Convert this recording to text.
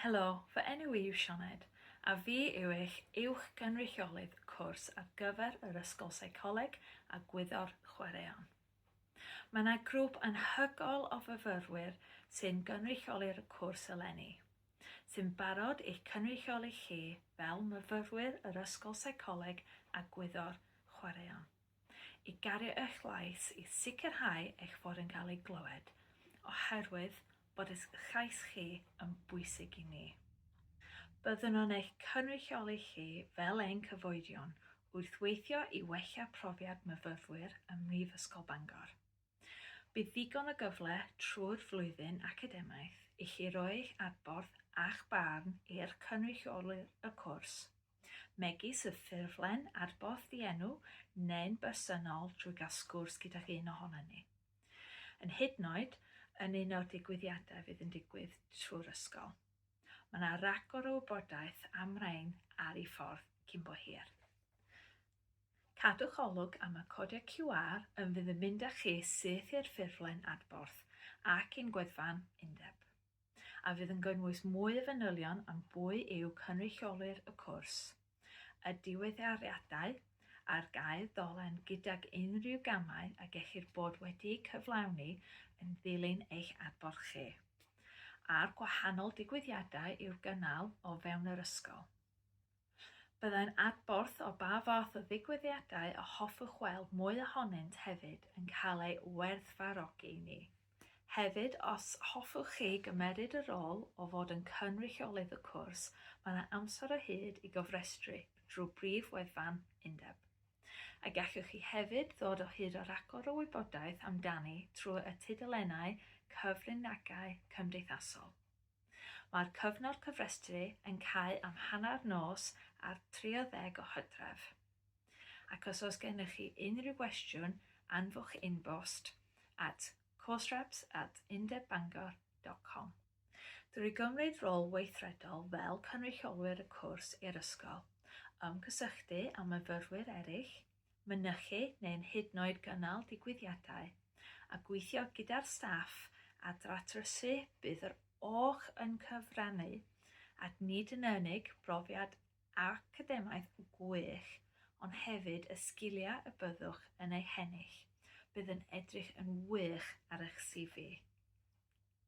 Helo, fy enw i yw Sioned, a fi yw eich Uwch Gynrychiolydd Cwrs ar gyfer yr Ysgol Seicoleg a Gwyddor Chwaraeon. Mae yna grŵp anhygoel o fyfyrwyr sy'n gynrychioli'r cwrs eleni, sy'n barod i'ch cynrychioli chi fel myfyrwyr yr Ysgol Seicoleg a Gwyddor Chwaraeon. i gario eich llais i sicrhau eich bod yn cael ei glywed, oherwydd bod eich llais chi yn bwysig i ni. Byddwn yn eich cynrychioli chi fel ein cyfoedion wrth weithio i wella profiad myfyfwyr ym Mhrifysgol Bangor. Bydd ddigon o gyfle trwy'r flwyddyn academaidd i chi roi eich adborth a'ch barn i'r cynrychiolydd y cwrs, megis y ffurflen adborth ddienw neu'n bersonol trwy gael sgwrs gydag un ohonon ni. Yn hydnod yn un o'r digwyddiadau fydd yn digwydd trwy'r ysgol. Mae yna ragor o wybodaeth am rain ar ei ffordd cyn bo hir. Cadwch olwg am y codiau QR yn fydd yn mynd â chi syth i'r ffurflen adborth ac i'n gwefan undeb. a fydd yn gynnwys mwy o fanylion am bwy yw cynrychiolwyr y cwrs, y diweddariadau ar gael ddolen gydag unrhyw gamau a gellir bod wedi'u cyflawni yn ddilyn eich adborth chi, a'r gwahanol digwyddiadau i'w gynnal o fewn yr ysgol. Byddai'n adborth o ba fath o ddigwyddiadau y hoffwch weld mwy ohonynt hefyd yn cael ei werthfawrogi i ni. Hefyd, os hoffwch chi gymeryd y rôl o fod yn cynrychiolydd y cwrs, mae yna amser o hyd i gofrestru drwy brif wefan undeb. A gallwch chi hefyd ddod o hyd â rhagor o wybodaeth amdani trwy y tudalennau cyfryngau cymdeithasol. Mae'r cyfnod cofrestru yn cau am hanner nos ar 30 o Hydref. Ac os oes gennych chi unrhyw gwestiwn, anfwch inbost at coursereps at undebbangor.com. Drwy gymryd rôl weithredol fel cynrychiolwyr y cwrs i'r ysgol, ymgysylltu â myfyrwyr eraill, mynychu neu'n hyd yn oed gynnal digwyddiadau, a gweithio gyda'r staff a ddatrysu bydd yr OCh yn cyfrannu at nid yn unig brofiad academaidd gwych ond hefyd y sgiliau y byddwch yn eu hennill, bydd yn edrych yn wych ar eich CV.